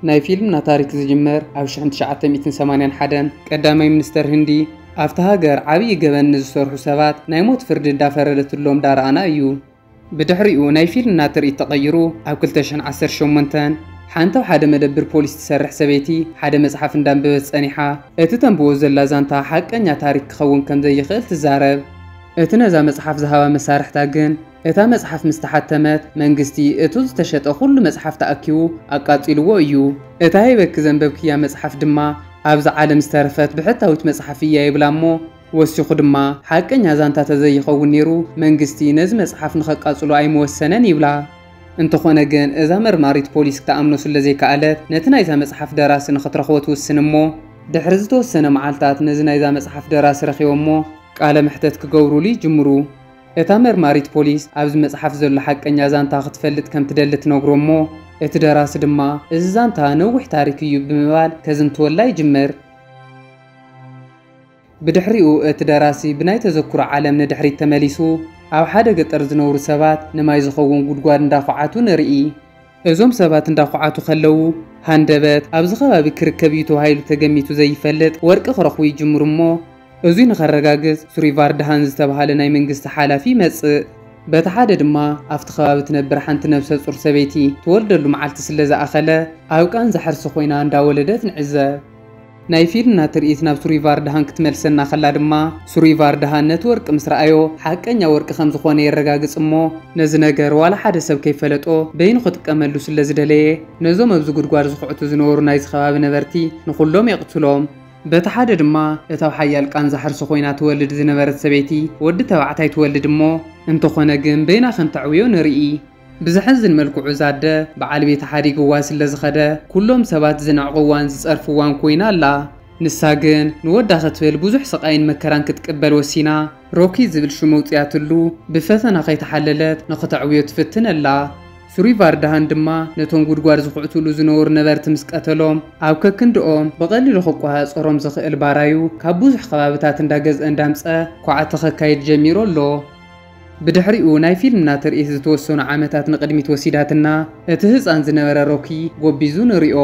ናይ ፊልምና ታሪክ ዝጅመር ኣብ 1981 ቀዳማይ ሚኒስተር ህንዲ ኣብቲ ሃገር ዓብዪ ገበን ንዝሰርሑ ሰባት ናይ ሞት ፍርዲ እንዳፈረደትሎም ዳርኣና እዩ። ብድሕሪኡ ናይ ፊልምና ትርኢት ተቐይሩ ኣብ 2018 ሓንቲ ኣብ ሓደ መደብር ፖሊስ ትሰርሕ ሰበይቲ ሓደ መጽሓፍ እንዳንበበት ጸኒሓ እቲ ተንብቦ ዘላ ዛንታ ሓቀኛ ታሪክ ክኸውን ከምዘይኽእል ትዛረብ። እቲ ነዛ መጽሓፍ ዝሃባ መሳርሕታ ግን፣ እታ መጽሓፍ ምስ ተሓተመት፣ መንግስቲ እቱ ዝተሸጠ ኩሉ መጽሓፍ ተኣኪቡ ኣቃጺሉዎ እዩ። እታ ሂበኪ ዘንበብክያ መጽሓፍ ድማ፣ ኣብዛ ዓለም ዝተረፈት ብሕታዊት መጽሓፍ እያ ይብላ እሞ፣ ወሲኹ ድማ፣ ሓቀኛ ዛንታ ተዘይኸውን ነይሩ፣ መንግስቲ ነዚ መጽሓፍ ንኸቃጽሎ ኣይምወሰነን ይብላ። እንተኾነ ግን፣ እዛ መርማሪት ፖሊስ ክትኣምኖ ስለዘይከኣለት፣ ነቲ ናይዛ መጽሓፍ ደራሲ ንኽትረኽቦ ትውስን እሞ፣ ድሕሪ ዝተወሰነ መዓልታት ነዚ ናይዛ መጽሓፍ ደራሲ ረኺቦሞ፣ ቃለ መሕተት ክገብሩሉ ይጅምሩ። እታ መርማሪት ፖሊስ ኣብዚ መጽሓፍ ዘሎ ሓቀኛ ዛንታ ክትፈልጥ ከም ትደሊ ትነግሮ እሞ እቲ ደራሲ ድማ እዚ ዛንታ ነዊሕ ታሪክ እዩ ብምባል ከዝንትወላ ይጅምር። ብድሕሪኡ እቲ ደራሲ ብናይ ተዘክሮ ዓለም ንድሕሪት ተመሊሱ ኣብ ሓደ ገጠር ዝነብሩ ሰባት ንማይ ዝኸውን ጉድጓድ እንዳኹዓቱ ንርኢ። እዞም ሰባት እንዳኹዓቱ ከለዉ ሃንደበት ኣብዚ ከባቢ ክርከብ እዩ ተባሂሉ ተገሚቱ ዘይፈልጥ ወርቂ ክረኽቡ ይጅምሩ እሞ እዙይ ንኸረጋግፅ ሱሪቫርድሃን ዝተብሃለ ናይ መንግስቲ ሓላፊ ይመፅእ። በቲ ሓደ ድማ ኣብቲ ከባቢ ትነብር ሓንቲ ነብሰፁር ሰበይቲ ትወልደሉ መዓልቲ ስለዝኣኸለ ኣብ ቃንዛ ሕርሲ ኮይና እንዳወለደት ንዕዘብ። ናይ ፊልና ትርኢት ናብ ሱሪቫርድሃን ክትመልሰና ከላ ድማ፣ ሱሪቫርድሃን ነቲ ወርቂ ምስ ረኣዮ፣ ሓቀኛ ወርቂ ከም ዝዀነ የረጋግጽ እሞ፣ ነዚ ነገር ዋላ ሓደ ሰብ ከይፈለጦ በይኑ ክጥቀመሉ ስለ ዝደለየ፣ ነዞም ኣብዚ ጕድጓድ ዝዅዕቱ ዝነበሩ ናይዚ ከባቢ ነበርቲ ንዅሎም የቕትሎም። በቲ ሓደ ድማ፣ እታ ኣብ ሓያል ቃንዛ ሕርሲ ዀይና ትወልድ ዝነበረት ሰበይቲ ወዲ ተባዕታይ ትወልድ እሞ፣ እንተዀነ ግን በይና ከም ተዕብዮ ንርኢ። ብዘሕዝን መልክዑ እዛ ኣደ በዓል ቤታ ሓዲግዋ ስለ ዝኸደ ኩሎም ሰባት ዝንዕቕዋን ዝጸርፍዋን ኮይና ኣላ። ንሳ ግን ንወዳ ክትብል ብዙሕ ስቓይን መከራን ክትቅበል ወሲና። ሮኪ ዝብል ሽም ኣውጺኣትሉ ብፈተና ከይተሓለለት ንኽተዕብዮ ትፍትን ኣላ። ሱሪቫርዳሃን ድማ ነቶም ጉድጓድ ዝኹዕቱሉ ዝነበሩ ነበርቲ ምስ ቀተሎም ኣብ ከክንድኦም ብቐሊሉ ክቆሃጸሮም ዝኽእል ባራዩ ካብ ብዙሕ ከባብታት እንዳገዝአ እንዳምጸ ኳዕቲ ከካይድ ጀሚሩ ኣሎ። ብድሕሪኡ ናይ ፊልምና ትርኢት ዝተወሰኑ ዓመታት ንቕድሚት ወሲዳትና፣ እቲ ህጻን ዝነበረ ሮኪ ጎቢዙ ንሪኦ።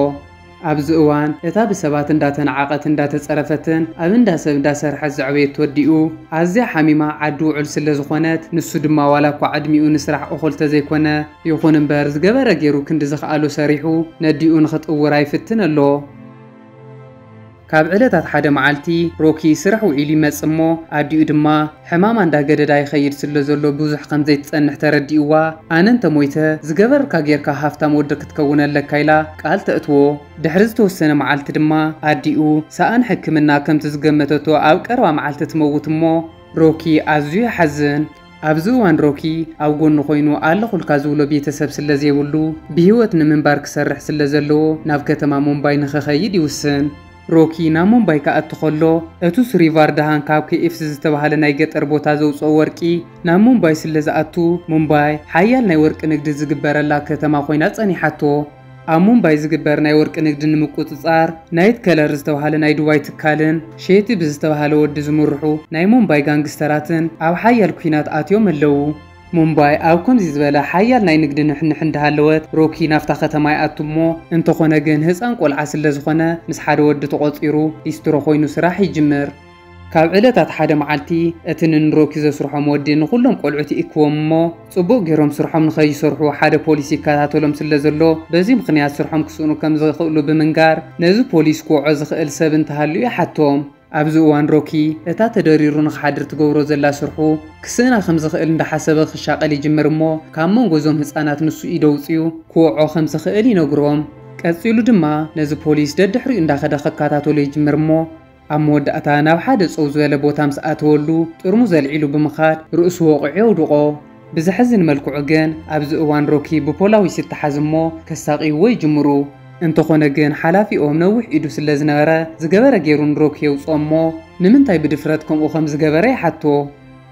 ኣብዚ እዋን እታ ብሰባት እንዳተናዓቐትን እንዳተጸረፈትን ኣብ እንዳ ሰብ እንዳሰርሐት ዘዕበየቶ ኣዲኡ ኣዝያ ሓሚማ ዓዲ ውዑል ስለዝኾነት ንሱ ድማ ዋላኳ ዕድሚኡ ንስራሕ እኹል ተዘይኮነ ይኹን እምበር ዝገበረ ጌሩ ክንዲ ዝኽኣሎ ሰሪሑ ነዲኡ ንኽጥውራ ይፍትን ኣሎ። ካብ ዕለታት ሓደ መዓልቲ ሮኪ ስራሕ ውዒሉ ይመጽእ እሞ ኣዲኡ ድማ ሕማማ እንዳገደዳ ይኸይድ ስለ ዘሎ ብዙሕ ከም ዘይትጸንሕ ተረዲእዋ ኣነ እንተ ሞይተ ዝገበርካ ጌርካ ሃፍታም ወዲ ክትከውን ኣለካ ኢላ ቃል ተእትዎ ድሕሪ ዝተወሰነ መዓልቲ ድማ ኣዲኡ ሰኣን ሕክምና ከምቲ ዝገመተቶ ኣብ ቀረባ መዓልቲ ትመውት እሞ ሮኪ ኣዝዩ ይሓዝን። ኣብዚ እዋን ሮኪ ኣብ ጎኑ ኮይኑ ኣለኹልካ ዝብሎ ቤተሰብ ስለዘይብሉ ብህይወት ንምንባር ክሰርሕ ስለዘለዎ ናብ ከተማ ሙምባይ ንኽኸይድ ይውስን። ሮኪ ናብ ሙምባይ ክኣቱ ከሎ እቱ ስሪቫር ደሃን ካብ ኬኤፍሲ ዝተባህለ ናይ ገጠር ቦታ ዘውፅኦ ወርቂ ናብ ሙምባይ ስለዝኣቱ ሙምባይ ሓያል ናይ ወርቂ ንግዲ ዝግበረላ ከተማ ኮይና ፀኒሓቶ። ኣብ ሙምባይ ዝግበር ናይ ወርቂ ንግዲ ንምቁጽጻር ናይት ከለር ዝተብሃለ ናይ ዱባይ ትካልን ሼቲ ብዝተብሃለ ወዲ ዝምርሑ ናይ ሙምባይ ጋንግስተራትን ኣብ ሓያል ኲናት ኣትዮም ኣለዉ። ሙምባይ ኣብ ከምዚ ዝበለ ሓያል ናይ ንግዲ ንሕንሕ እንዳሃለወት ሮኪ ናብታ ከተማ ይኣቱ እሞ እንተኾነ ግን ህጻን ቆልዓ ስለዝኾነ ምስ ሓደ ወዲ ተቖጺሩ ሊስትሮ ኮይኑ ስራሕ ይጅምር። ካብ ዕለታት ሓደ መዓልቲ፣ እቲ ንንሮኪ ዘስርሖም ወዲ ንኹሎም ቆልዑት ይእክቦም እሞ፣ ጽቡቕ ጌሮም ስርሖም ንኸይሰርሑ ሓደ ፖሊስ ይከታተሎም ስለ ዘሎ፣ በዚ ምኽንያት ስርሖም ክስእኑ ከም ዝኽእሉ ብምንጋር፣ ነዚ ፖሊስ ክወዖ ዝኽእል ሰብ እንተሃልዩ ይሓቶም። ኣብዚ እዋን ሮኪ፣ እታ ተደሪሩ ንኽሓድር ትገብሮ ዘላ ስርሑ፣ ክስእና ከም ዝኽእል እንዳሓሰበ ክሻቐል ይጅምር እሞ፣ ካብ መንጎ እዞም ህጻናት ንሱ ኢድ ኣውጺኡ ክወዖ ከም ዝኽእል ይነግሮም። ቀጺሉ ድማ፣ ነዚ ፖሊስ ደድሕሪኡ እንዳኸደ ክከታተሎ ይጅምር እሞ፣ ኣብ መወዳእታ ናብ ሓደ ጸው ዝበለ ቦታ ምስ ኣተወሉ ጥርሙዝ ኣልዒሉ ብምኻድ ርእሱ ወቒዑ የውድቖ። ብዘሕዝን መልክዑ ግን ኣብዚ እዋን ሮኪ ብፖላዊስ ይተሓዝ እሞ ከሳቕይዎ ይጅምሩ። እንተኾነ ግን ሓላፊኦም ነዊሕ ኢዱ ስለ ዝነበረ ዝገበረ ጌሩ ንሮኪ የውጽኦ እሞ ንምንታይ ብድፍረት ከምኡ ከም ዝገበረ ይሓቶ።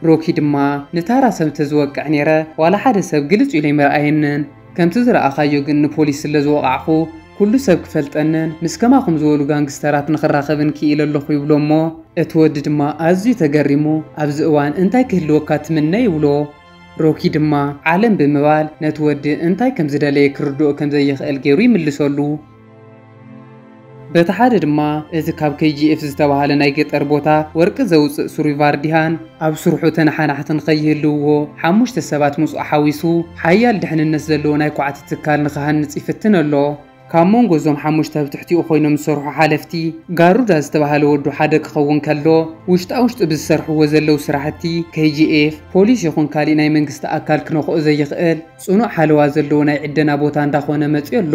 ሮኪ ድማ ንታራ ሰብ እንተዝወቅዕ ኔረ ዋላ ሓደ ሰብ ግልጽ ኢሉ ኣይምርኣየንን። ከምቲ ዝረኣኻዮ ግን ንፖሊስ ስለ ዝወቓዕኹ ኩሉ ሰብ ክፈልጠንን ምስ ከማኹም ዝበሉ ጋንግስተራት ንኽራኸብን ክኢለ ኣለኹ ይብሎ'ሞ እቲ ወዲ ድማ ኣዝዩ ተገሪሙ ኣብዚ እዋን እንታይ ክህልወካ ትምነ ይብሎ። ሮኪ ድማ ዓለም ብምባል ነቲ ወዲ እንታይ ከም ዝደለየ ክርድኦ ከም ዘይኽእል ገይሩ ይምልሰሉ። በቲ ሓደ ድማ እዚ ካብ KGF ዝተባህለ ናይ ገጠር ቦታ ወርቂ ዘውጽእ ሱሪቫር ዲሃን ኣብ ስርሑ ተነሓናሕቲ ንኸይህልውዎ ሓሙሽተ ሰባት ምስኡ ሓዊሱ ሓያል ድሕንነት ዘለዎ ናይ ኳዕቲ ትካል ንኽሃንጽ ይፍትን ኣሎ። ካብ መንጎ እዞም ሓሙሽተ ኣብ ትሕቲኡ ኮይኖም ዝሰርሑ ሓለፍቲ ጋሩዳ ዝተባህለ ወዱ ሓደ ክኸውን ከሎ ውሽጣ ውሽጢ ብዝሰርሕዎ ዘለው ስራሕቲ KGF ፖሊስ ይኹን ካሊእ ናይ መንግስቲ ኣካል ክነኽኦ ዘይኽእል ጽኑዕ ሓለዋ ዘለዎ ናይ ዕደና ቦታ እንዳ ኾነ መጺኡ ኣሎ።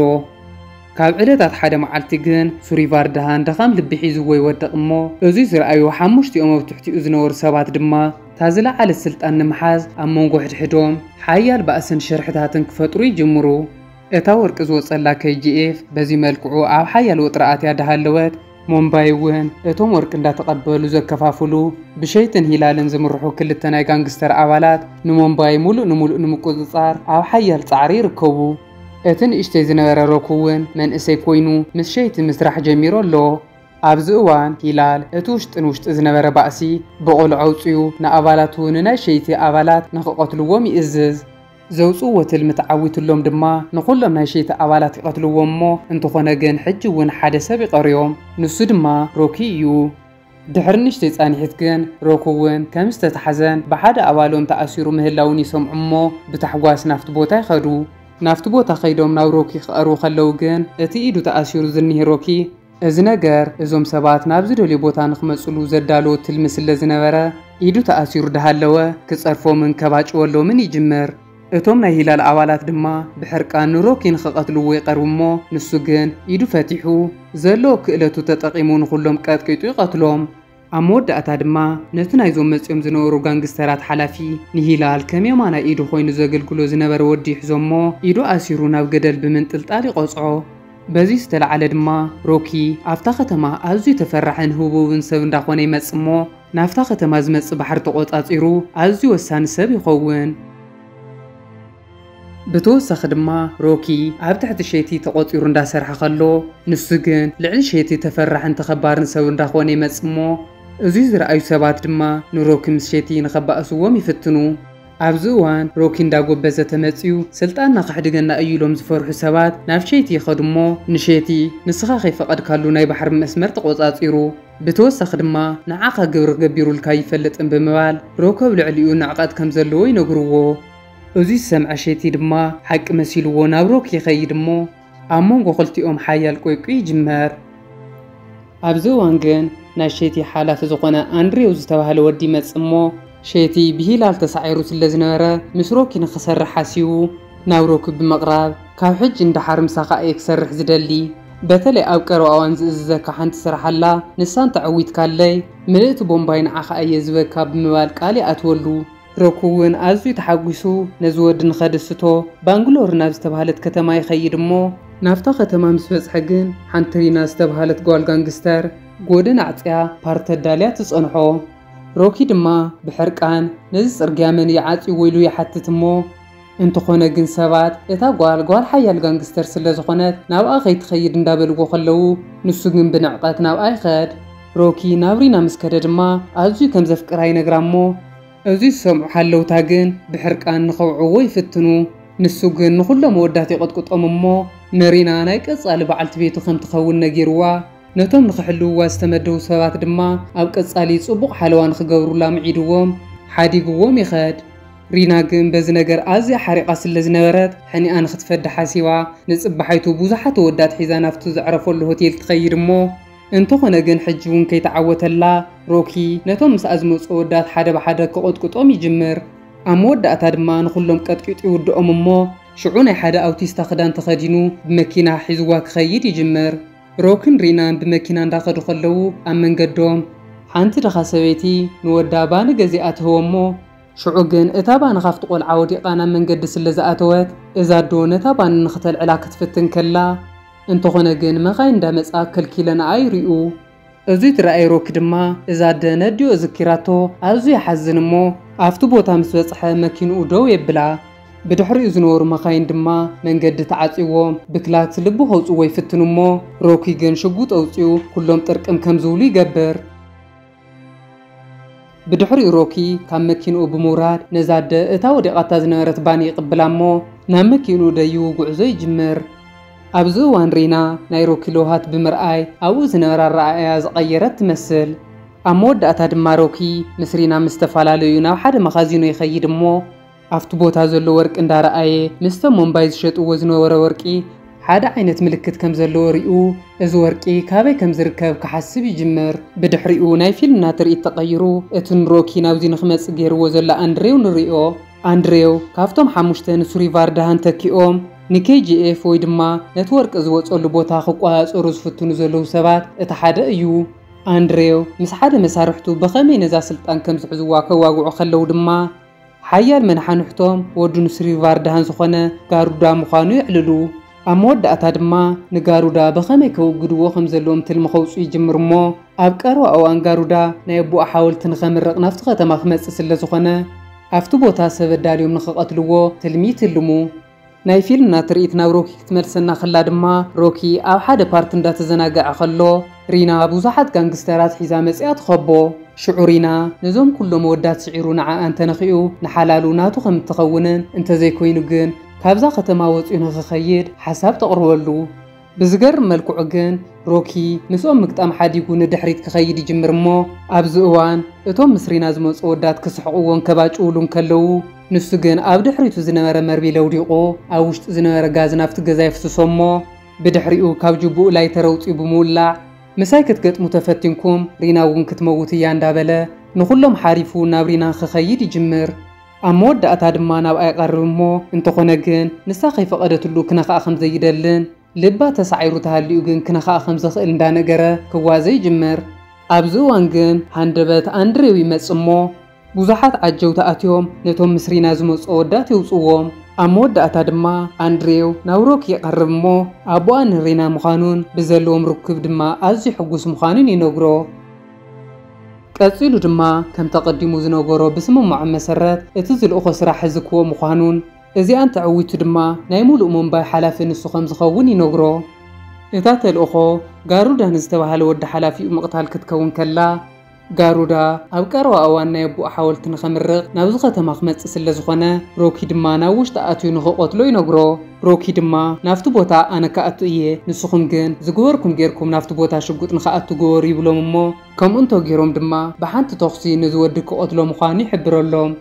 ካብ ዕለታት ሓደ መዓልቲ ግን ሱሪ ቫርድሃን ድኻም ልቢ ሒዝዎ ይወድቕ እሞ እዙይ ዝረኣዩ ሓሙሽቲኦም ኣብ ትሕቲኡ ዝነበሩ ሰባት ድማ እታ ዝለዓለት ስልጣን ንምሓዝ ኣብ መንጎ ሕድሕዶም ሓያል ባእስን ሽርሕታትን ክፈጥሩ ይጅምሩ። እታ ወርቂ ዝወጸላ KGF በዚ መልክዑ ኣብ ሓያል ወጥሪ ኣትያ ዳሃለወት፣ ሞምባይ እውን እቶም ወርቂ እንዳተቐበሉ ዘከፋፍሉ ብሸይትን ሂላልን ዝምርሑ ክልተ ናይ ጋንግስተር ኣባላት ንሞምባይ ሙሉእ ንሙሉእ ንምቁፅፃር ኣብ ሓያል ፃዕሪ ይርከቡ። እቲ ንእሽተይ ዝነበረ ሮክ እውን መንእሰይ ኮይኑ ምስ ሸይቲ ምስራሕ ጀሚሩ ኣሎ። ኣብዚ እዋን ሂላል እቲ ውሽጢ ንውሽጢ ዝነበረ ባእሲ ብቐሉ ዓውፂኡ ንኣባላቱ ንናይ ሸይቲ ኣባላት ንክቐትልዎም ይእዝዝ። ዘውጽእዎ ትልሚ ተዓዊትሎም ድማ ንኹሎም ናይ ሸይቲ ኣባላት ይቐትልዎም እሞ እንተኾነ ግን ሕጂ ውን ሓደ ሰብ ይቐርዮም ንሱ ድማ ሮኪ እዩ። ድሕሪ ንእሽተይ ጻኒሒት ግን ሮኪ ውን ከም ዝተታሕዘን ብሓደ ኣባሎም ተኣሲሩ ምህላዉን ይሰምዑ እሞ ብታሕጓስ ናብቲ ቦታ ይኸዱ። ናብቲ ቦታ ከይዶም ናብ ሮኪ ክቐርቡ ከለዉ ግን እቲ ኢዱ ተኣሲሩ ዝኒህ ሮኪ፣ እዚ ነገር እዞም ሰባት ናብ ዝደልዮ ቦታ ንክመጽሉ ዘዳለዎ ትልሚ ስለ ዝነበረ፣ ኢዱ ተኣሲሩ ዳሃለወ ክጸርፎምን ከባጭወሎምን ይጅምር። እቶም ናይ ሂላል ኣባላት ድማ ብሕርቃን ንሮኪ ንክቀትልዎ ይቀርቡ እሞ ንሱ ግን ኢዱ ፈቲሑ፣ ዘለዎ ክእለቱ ተጠቂሙ ንኩሎም ቀጥቂጡ ይቀትሎም። ኣብ መወዳእታ ድማ ነቲ ናይዞም መጺኦም ዝነበሩ ጋንግስተራት ሓላፊ ንሂላል ከም የማናይ ኢዱ ኮይኑ ዘገልግሎ ዝነበረ ወዲ ይሕዞ'ሞ ኢዱ ኣሲሩ ናብ ገደል ብምንጥልጣል ይቐጽዖ። በዚ ዝተላዕለ ድማ ሮኪ ኣብታ ከተማ ኣዝዩ ተፈራሕን ህቡብን ሰብ እንዳኾነ ይመጽእ'ሞ ናብታ ከተማ ዝመጽእ ባሕሪ ተቖጻጺሩ ኣዝዩ ወሳኒ ሰብ ይኸውን። ብተወሳኺ ድማ ሮኪ ኣብ ትሕቲ ሼቲ ተቖጺሩ እንዳሰርሐ ከሎ ንሱ ግን ልዕሊ ሼቲ ተፈራሕን ተኸባርን ሰብ እንዳኾነ ይመጽእ እሞ እዙይ ዝረኣዩ ሰባት ድማ ንሮኪ ምስ ሼቲ ንኸባእስዎም ይፍትኑ። ኣብዚ እዋን ሮኪ እንዳጎበዘ ተመጽዩ ስልጣንና ከሕድገና እዩ ኢሎም ዝፈርሑ ሰባት ናብ ሼቲ ይኸዱ እሞ ንሼቲ ንስኻ ከይፈቐድካሉ ናይ ባሕሪ መስመር ተቖጻጺሩ ብተወሳኺ ድማ ንዓኻ ግብሪ ገቢሩልካ ኣይፈልጥን ብምባል ሮኪ ኣብ ልዕሊኡ ንዕቐት ከምዘለዎ ይነግርዎ። እዙይ ዝሰምዐ ሼቲ ድማ ሓቂ መሲልዎ ናብ ሮክ ይኸይድ እሞ ኣብ መንጎ ክልቲኦም ሓያል ቆይቊ ይጅመር። ኣብዚ እዋን ግን ናይ ሼቲ ሓላፊ ዝኾነ ኣንድሬው ዝተባህለ ወዲ ይመፅእ እሞ ሼቲ ብሂላል ተሳዒሩ ስለዝነበረ ምስ ሮኪ ንኽሰርሕ ሓሲቡ ናብ ሮኪ ብምቕራብ ካብ ሕጂ ንደሓር ምሳኻ እየ ክሰርሕ ዝደሊ በተለይ ኣብ ቀረባ እዋን ዝእዝዘካ ሓንቲ ስራሕ ኣላ ንሳ እንተዐዊትካለይ ምልእቲ ቦምባይ ንዓኻ እየ ዝህበካ ብምባል ቃል ይኣትወሉ። ሮኩ እውን ኣዝዩ ተሓጒሱ ነዚ ወዲ ንኸድስቶ ባንግሎር ናብ ዝተብሃለት ከተማ ይኸይድ እሞ፣ ናብታ ከተማ ምስ በጽሐ ግን ሓንቲ ሪና ዝተብሃለት ጓል ጋንግስተር ጎደና ኣዕጽያ ፓርቲ ኣዳልያ ትጸንሖ። ሮኪ ድማ ብሕርቃን ነዚ ጽርግያ መን እዩ ዓጽይዎ ኢሉ ይሓትት እሞ፣ እንተኾነ ግን ሰባት እታ ጓል ጓል ሓያል ጋንግስተር ስለ ዝኾነት ናብኣ ከይትኸይድ እንዳበልዎ ከለዉ ንሱ ግን ብንዕቐት ናብኣ ይኸድ። ሮኪ ናብ ሪና ምስ ከደ ድማ ኣዝዩ ከም ዘፍቅራ ይነግራ እሞ እዚ ዝሰምዑ ሓለውታ ግን ብሕርቃን ንኸውዕዎ ይፍትኑ። ንሱ ግን ንኹሎም ኣወዳት ይቕጥቅጦም እሞ ንሪና ናይ ቀጻሊ በዓልቲ ቤቱ ከም ትኸውን ነጊርዋ። ነቶም ንኽሕልውዋ ዝተመደቡ ሰባት ድማ ኣብ ቀጻሊ ጽቡቕ ሓለዋ ንኽገብሩላ ምዒድዎም ሓዲግዎም ይኸድ። ሪና ግን በዚ ነገር ኣዝያ ሓሪቓ ስለ ዝነበረት፣ ሕኒኣ ንኽትፈዲ ሓሲባ፣ ንጽባሓይቱ ብዙሓት ኣወዳት ሒዛ ናብቲ ዘዕረፈሉ ሆቴል ትኸይድ እሞ፣ እንተኾነ ግን ሕጂ'ውን ከይተዓወተላ፣ ሮኪ ነቶም ምስኣ ዝመጹ ኣወዳት ሓደ ብሓደ ክቕጥቅጦም ይጅምር። ኣብ መወዳእታ ድማ ንኹሎም ቀጥቂጡ ይውድኦም እሞ፣ ሽዑ ናይ ሓደ ኣውቲስታ ክዳን ተኸዲኑ ብመኪና ሒዝዋ ክኸይድ ይጅምር። ሮኪን ሪናን ብመኪና እንዳኸዱ ከለዉ ኣብ መንገዶም። ሓንቲ ድኻ ሰበይቲ ንወዳ ባኒ ገዚኣ ትህቦ እሞ፣ ሽዑ ግን እታ ባኒ ኻብቲ ቈልዓ ወዲቓ ናብ መንገዲ ስለ ዝኣተወት፣ እዛ ኣዶ ነታ ባኒ ንኽተልዕላ ክትፍትን ከላ፣ እንተዀነ ግን መኻይን እንዳ መጻ ከልኪለንኣ ይርኡ። እዚ ዝረኣየ ሮኪ ድማ እዛ ኣደ ነዲኦ ዝኪራቶ ኣዝዩ ይሓዝን እሞ ኣብቲ ቦታ ምስ በጽሐ መኪንኡ ደው የብላ። ብድሕሪኡ ዝነበሩ መኻይን ድማ መንገዲ ተዓጽዩዎም ብክላክስ ልቢ ከውጽዎ ይፍትኑ እሞ ሮኪ ግን ሽጉጥ ኣውጺኡ ኩሎም ጥርቅም ከም ዝብሉ ይገብር። ብድሕሪኡ ሮኪ ካብ መኪንኡ ብምውራድ ነዛ ኣደ እታ ወዲቓታ ዝነበረት ባኒ ይቕብላ እሞ ናብ መኪንኡ ደዩ ጉዕዞ ይጅምር። ኣብዚ እዋን ሪና ናይ ሮኪ ለውሃት ብምርኣይ ኣብኡ ዝነበረ ኣረኣእያ ዝቐየረት ትመስል። ኣብ መወዳእታ ድማ ሮኪ ምስ ሪና ምስ ተፈላለዩ ናብ ሓደ መኻዚኖ ይኸይድ እሞ፣ ኣብቲ ቦታ ዘሎ ወርቂ እንዳረኣየ ምስቶም ሞምባይ ዝሸጥዎ ዝነበረ ወርቂ ሓደ ዓይነት ምልክት ከም ዘለዎ ሪኡ እዚ ወርቂ ካበይ ከም ዝርከብ ክሓስብ ይጅምር። ብድሕሪኡ ናይ ፊልምና ትርኢት ተቐይሩ እቲ ንሮኪ ናብዚ ንክመጽእ ገይርዎ ዘሎ ኣንድሬው ንሪኦ። ኣንድሬው ካብቶም ሓሙሽተ ንሱሪ ቫርዳሃን ተኪኦም ንኬጂኤፍ ወይ ድማ ነቲ ወርቂ ዝወጸሉ ቦታ ክቆጻጸሩ ዝፍትኑ ዘለዉ ሰባት እቲ ሓደ እዩ። ኣንድሬው ምስ ሓደ መሳርሕቱ ብኸመይ ነዛ ስልጣን ከም ዝሕዝዋ ከዋግዑ ከለዉ ድማ፣ ሓያል መነሓንሕቶም ወዲ ኑስሪቫርዳን ዝኾነ ጋሩዳ ምዃኑ የዕልሉ። ኣብ መወዳእታ ድማ ንጋሩዳ ብኸመይ ከወግድዎ ከም ዘለዎም ትልሚ ከውጽኡ ይጅምሩ እሞ፣ ኣብ ቀረባ እዋን ጋሩዳ ናይ ኣቦኡ ሓወልቲ ንኸምርቕ ናብቲ ከተማ ክመጽእ ስለ ዝኾነ፣ ኣብቲ ቦታ ሰብ ኣዳልዮም ንኽቐትልዎ ትልሚ ይትልሙ። ናይ ፊልምና ትርኢት ናብ ሮኪ ክትመልሰና ከላ ድማ ሮኪ ኣብ ሓደ ፓርት እንዳተዘናገዐ ከሎ ሪና ብዙሓት ጋንግስተራት ሒዛ መጺኣ ትኸቦ። ሽዑ ሪና ነዞም ኩሎም ኣወዳት ስዒሩ ንዓኣ እንተነኺኡ ንሓላሉ ናቱ ከም እትኸውንን እንተዘይኮይኑ ግን ካብዛ ከተማ ወጽዩ ንኽኸይድ ሓሳብ ተቕርበሉ። ብዝገርም መልክዑ ግን ሮኪ ምስኦም ምግጣም ሓዲጉ ንድሕሪት ክኸይድ ይጅምር እሞ ኣብዚ እዋን እቶም ምስ ሪና ዝመጹ ኣወዳት ክስሕቕዎን ከባጭውሉን ከለዉ ንሱ ግን ኣብ ድሕሪቱ ዝነበረ መርቢል ኣውዲቑ ኣብ ውሽጢ ዝነበረ ጋዝ ናብቲ ገዛ የፍስሶ እሞ ብድሕሪኡ ካብ ጁቡኡ ላይተር ኣውጺኡ ብምውላዕ ምሳይ ክትገጥሙ ተፈቲንኩም ሪና እውን ክትመውት እያ እንዳበለ ንኹሎም ሓሪፉ ናብ ሪና ክኸይድ ይጅምር። ኣብ መወዳእታ ድማ ናብኣ ይቐርብ እሞ እንተኾነ ግን ንሳ ከይፈቐደትሉ ክነኽኣ ከም ዘይደልን ልባ ተሳዒሩ ተሃሊኡ ግን ክነኽኣ ከም ዝኽእል እንዳነገረ ክዋዘ ይጅምር። ኣብዚ እዋን ግን ሃንደበት ኣንድሬው ይመጽእ እሞ ብዙሓት ዓጀውቲ ኣትዮም ነቶም ምስ ሪና ዝመጹ ኣወዳት የውጽእዎም። ኣብ መወዳእታ ድማ ኣንድሬው ናብ ሮኪ ይቐርብ እሞ ኣቦኣ ንሪና ምዃኑን ብዘለዎም ርክብ ድማ ኣዝዩ ሕጉስ ምዃኑን ይነግሮ። ቀጺሉ ድማ ከምቲ ኣቐዲሙ ዝነገሮ ብስምምዖም መሰረት እቲ ዝልእኾ ስራሕ ዝክወ ምዃኑን እዚኣ እንተዐዊቱ ድማ ናይ ሙሉእ ሙምባይ ሓላፊ ንሱ ከምዝኸውን ይነግሮ። እታ ተልእኾ ጋሩዳ ንዝተበሃለ ወዲ ሓላፊኡ ምቕታል ክትከውን ከላ፣ ጋሩዳ ኣብ ቀረባ እዋን ናይ ኣቡኡ ሓወልቲ ንኸምርቕ ናብዚ ከተማ ክመጽእ ስለዝኾነ ሮኪ ድማ ናብ ውሽጢ ኣትዩ ንኽቐትሎ ይነግሮ። ሮኪ ድማ ናብቲ ቦታ ኣነ ክኣቱ እየ ንስኹም ግን ዝግበርኩም ጌርኩም ናብቲ ቦታ ሽጉጥ ንክኣቱ ግበሩ ይብሎም እሞ ከምኡ እንተጌሮም ድማ ብሓንቲ ተኹሲ ነዚ ወዲ ክቐትሎ ምዃኑ ይሕብረሎም።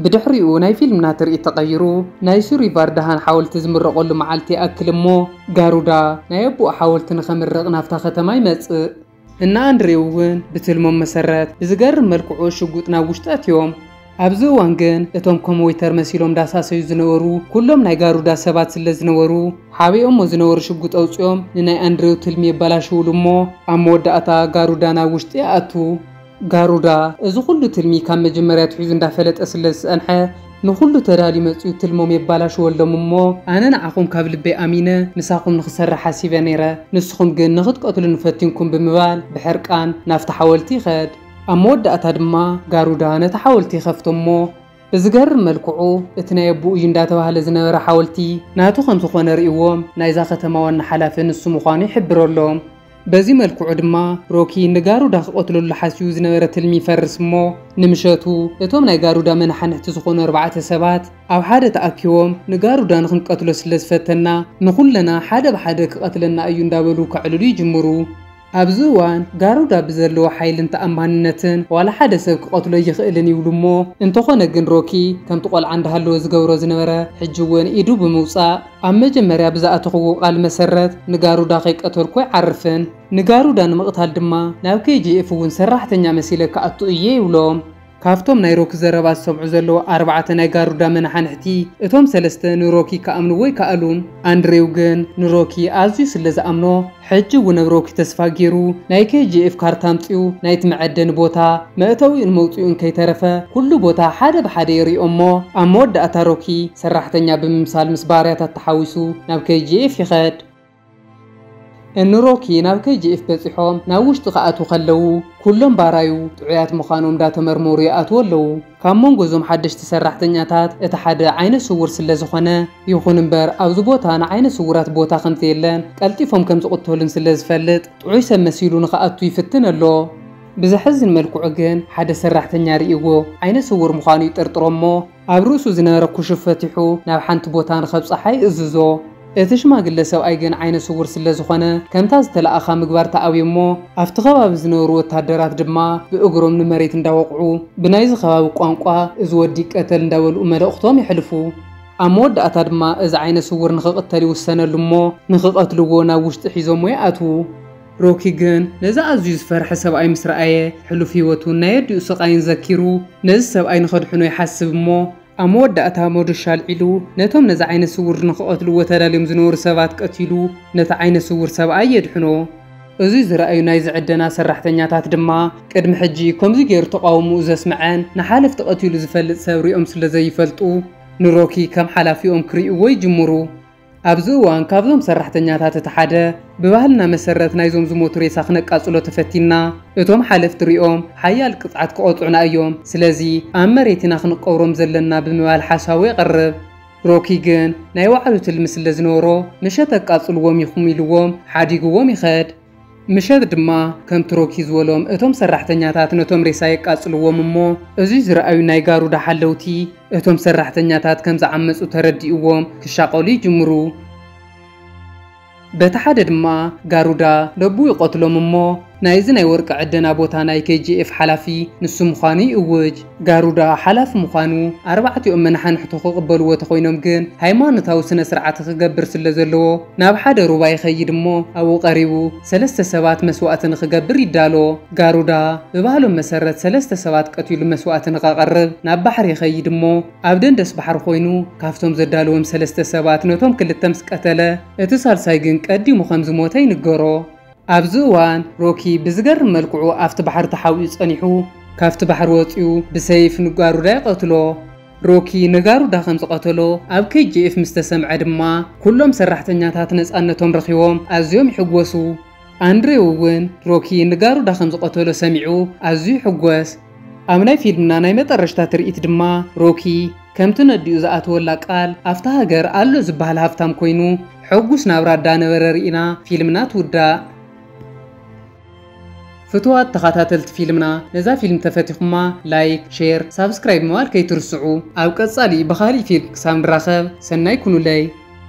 ብድሕሪኡ ናይ ፊልምና ትርኢት ተቐይሩ ናይ ሱሪቫርዳሃን ሓወልቲ ዝምረቐሉ መዓልቲ ይኣክል እሞ ጋሩዳ ናይ ኣቡኡ ሓወልቲ ንኸምርቕ ናብታ ከተማ ይመጽእ። እነ ኣንድሬው እውን ብትልሞም መሰረት ብዝገርም መልክዑ ሽጉጥ ናብ ውሽጢ ኣእትዮም። ኣብዚ እዋን ግን እቶም ከም ወይተር መሲሎም ዳሳሰዩ ዝነበሩ ኩሎም ናይ ጋሩዳ ሰባት ስለ ዝነበሩ ሓቢኦሞ ዝነበሩ ሽጉጥ ኣውጺኦም ንናይ ኣንድሬው ትልሚ የባላሽውሉ እሞ ኣብ መወዳእታ ጋሩዳ ናብ ውሽጢ ይኣቱ። ጋሩዳ እዚ ኩሉ ትልሚ ካብ መጀመርያ ኣትሒዙ እንዳፈለጠ ስለ ዝጸንሐ ንኩሉ ተዳልዩ መጽዩ ትልሞም የባላሽወሎም እሞ ኣነ ንዓኹም ካብ ልበይ ኣሚነ ምሳኹም ንክሰርሕ ሓሲበ ነይረ ንስኹም ግን ንክትቀትሉኒ ፈቲንኩም ብምባል ብሕርቃን ናብቲ ሓወልቲ ይኸድ ኣብ መወዳእታ ድማ ጋሩዳ ነቲ ሓወልቲ ይኸፍቶ እሞ ብዝገርም መልክዑ እቲ ናይ ኣቡኡ እዩ እንዳተባህለ ዝነበረ ሓወልቲ ናቱ ከም ዝኾነ ርእይዎም ናይዛ ከተማ ዋና ሓላፊ ንሱ ምዃኑ ይሕብረሎም። በዚ መልክዑ ድማ ሮኪ ንጋሩዳ ክቐትለሉ ሓሲቡ ዝነበረ ትልሚ ይፈርስ እሞ ንምሸቱ እቶም ናይ ጋሩዳ መነሓንሕቲ ዝኾኑ ኣርባዕተ ሰባት ኣብ ሓደ ተኣኪቦም ንጋሩዳ ንኽንቀትሎ ስለ ዝፈተና ንኹለና ሓደ ብሓደ ክቐትለና እዩ እንዳበሉ ከዕልሉ ይጅምሩ። ኣብዚ እዋን ጋሩዳ ብዘለዎ ሓይልን ተኣማንነትን ዋላ ሓደ ሰብ ክቐትሎ ኣይኽእልን ይብሉ እሞ እንተኾነ ግን ሮኪ ከምቲ ቆልዓ እንዳሃለወ ዝገብሮ ዝነበረ ሕጂ እውን ኢዱ ብምውፃእ ኣብ መጀመርያ ብዝኣተኹዎ ቃል መሰረት ንጋሩዳ ከይቀተልኩ ኣይዓርፍን። ንጋሩዳ ንምቕታል ድማ ናብ KGF እውን ሰራሕተኛ መሲለ ክኣቱ እየ ይብሎም። ካብቶም ናይ ሮኪ ዘረባ ዝሰምዑ ዘለዉ ኣርባዕተ ናይ ጋሩዳ መነሓንሕቲ፣ እቶም ሰለስተ ንሮኪ ክኣምንዎ ኣይከኣሉን። ኣንድሬው ግን ንሮኪ ኣዝዩ ስለ ዝኣምኖ፣ ሕጂ እውን ብ ሮኪ ተስፋ ጌሩ ናይ KGF ካርታ ኣምጺኡ ናይቲ መዐደኒ ቦታ መእተዊኡን መውጽኢኡን ከይተረፈ ኩሉ ቦታ ሓደ ብሓደ የርእዮ እሞ ኣብ መወዳእታ ሮኪ ሰራሕተኛ ብምምሳል ምስ ባርያታት ተሓዊሱ ናብ KGF ይኸድ። ን ሮኪ ናብ KGF በጺሖም ናብ ውሽጢ ክኣትዉ ከለዉ ኩሎም ባራዩ ጥዑያት ምዃኖም ዳተመርመሩ ይኣትዉ ኣለዉ። ካብ መንጎ እዞም ሓደሽቲ ሰራሕተኛታት እቲ ሓደ ዓይነ ስውር ስለዝኾነ፣ ይኹን እምበር ኣብዚ ቦታ ንዓይነ ስውራት ቦታ ከምዘየለን ቀልጢፎም ከምዝቕተሉን ስለዝፈልጥ ጥዑይ ሰብ መሲሉ ንኽኣቱ ይፍትን ኣሎ። ብዘሕዝን መልክዑ ግን ሓደ ሰራሕተኛ ርእይዎ ዓይነ ስውር ምዃኑ ይጥርጥሮ'ሞ ኣብ ርእሱ ዝነበረ ኩሹፍ ፈቲሑ ናብ ሓንቲ ቦታ ንኸብጽሓ ይእዝዞ። እቲ ሽማግለ ሰብኣይ ግን ዓይነ ስዉር ስለ ዝኾነ ከምታ ዝተላእኻ ምግባር ተኣብዮ እሞ ኣብቲ ከባቢ ዝነብሩ ወታደራት ድማ ብእግሮም ንመሬት እንዳወቕዑ ብናይዚ ከባቢ ቋንቋ እዚ ወዲ ይቀተል እንዳበልኡ መልእኽቶም የሕልፉ። ኣብ መወዳእታ ድማ እዚ ዓይነ ስዉር ንኽቕተል ይውሰነሉ እሞ ንኽቐትልዎ ናብ ውሽጢ ሒዞምዎ ይኣትዉ። ሮኪ ግን ነዚ ኣዝዩ ዝፈርሐ ሰብኣይ ምስ ረኣየ ሕሉፍ ህይወቱን ናይ ኣዲኡ ስቓይን ዘኪሩ ነዚ ሰብኣይ ንኸድሕኖ ይሓስብ እሞ ኣብ መወዳእታ ሞዶሻ ኣልዒሉ ነቶም ነዚ ዓይነ ስውር ንኽቐትልዎ ተዳልዮም ዝነበሩ ሰባት ቀቲሉ ነቲ ዓይነ ስውር ሰብኣይ የድሕኖ። እዚ ዝረኣዩ ናይዚ ዕደና ሰራሕተኛታት ድማ ቅድሚ ሕጂ ከምዚ ገይሩ ተቓውሞኡ ዘስመዐን ንሓለፍቲ ቀቲሉ ዝፈልጥ ሰብ ሪኦም ስለ ዘይፈልጡ ንሮኪ ከም ሓላፊኦም ክሪእዎ ይጅምሩ። ኣብዚ እዋን ካብዞም ሰራሕተኛታት እቲ ሓደ ብባህልና መሰረት ናይዞም ዝሞቱ ሬሳ ክነቃጽሎ ተፈቲንና እቶም ሓለፍቲ ሪኦም ሓያል ቅጽዓት ክቐጽዑና እዮም ስለዚ ኣብ መሬት ኢና ክንቀብሮም ዘለና ብምባል ሓሳቡ የቕርብ። ሮኪ ግን ናይ ባዕሉ ትልሚ ስለዝነበሮ ምሸት ኣቃጽልዎም ኢኹም ኢልዎም ሓዲግዎም ይኸድ። ምሸት ድማ ከምቲ ሮኪ ዝበሎም እቶም ሰራሕተኛታት ነቶም ሬሳ የቃጽልዎም እሞ እዙይ ዝረኣዩ ናይ ጋሩዳ ሓለውቲ እቶም ሰራሕተኛታት ከም ዝዓመጹ ተረዲእዎም ክሻቐሉ ይጅምሩ። በቲ ሓደ ድማ ጋሩዳ ደቡ ይቐትሎም እሞ ናይ እዚ ናይ ወርቂ ዕደና ቦታ ናይ KGF ሓላፊ ንሱ ምዃኑ ይእውጅ። ጋሩዳ ሓላፊ ምዃኑ፣ ኣርባዕቲኦም መናሓንሕቱ ክቕበልዎ ተኾይኖም ግን ሃይማኖታዊ ስነ ስርዓት ክገብር ስለ ዘለዎ ናብ ሓደ ሩባ ይኸይድ እሞ ኣብኡ ቀሪቡ ሰለስተ ሰባት መስዋእቲ ንክገብር ይዳሎ። ጋሩዳ ብባህሎም መሰረት ሰለስተ ሰባት ቀቲሉ መስዋእቲ ንከቐርብ ናብ ባሕሪ ይኸይድ እሞ ኣብ ደንደስ ባሕሪ ኮይኑ ካብቶም ዘዳልዎም ሰለስተ ሰባት ነቶም ክልተ ምስ ቀተለ እቲ ሳልሳይ ግን ቀዲሙ ከም ዝሞተ ይንገሮ። ኣብዚ እዋን ሮኪ ብዝገርም መልክዑ ኣብቲ ባሕሪ ተሓቢኡ ጸኒሑ ካብቲ ባሕሪ ወጺኡ ብሰይፍ ንጋሩዳ ይቐትሎ። ሮኪ ንጋሩዳ ከም ዝቐተሎ ኣብ KGF ምስ ተሰምዐ ድማ ኩሎም ሰራሕተኛታት ነጻነቶም ረኺቦም ኣዝዮም ይሕጎሱ። ኣንድሬው እውን ሮኪ ንጋሩዳ ከም ዝቐተሎ ሰሚዑ ኣዝዩ ይሕጎስ። ኣብ ናይ ፊልምና ናይ መጠረሽታ ትርኢት ድማ ሮኪ ከምቲ ነዲኡ ዝኣተወላ ቃል ኣፍታ ሃገር ኣሎ ዝብሃል ሃፍታም ኮይኑ ሑጉስ ናብራ እዳነበረ ሪኢና ፊልምና ትውዳእ። ፍቱዋት ተኻታተልቲ ፊልምና ነዛ ፊልም ተፈቲኹማ ላይክ ሼር ሳብስክራይብ ምባል ከይትርስዑ ኣብ ቀጻሊ ብኻሊእ ፊልም ክሳብ ንራኸብ ሰናይ ኩኑለይ።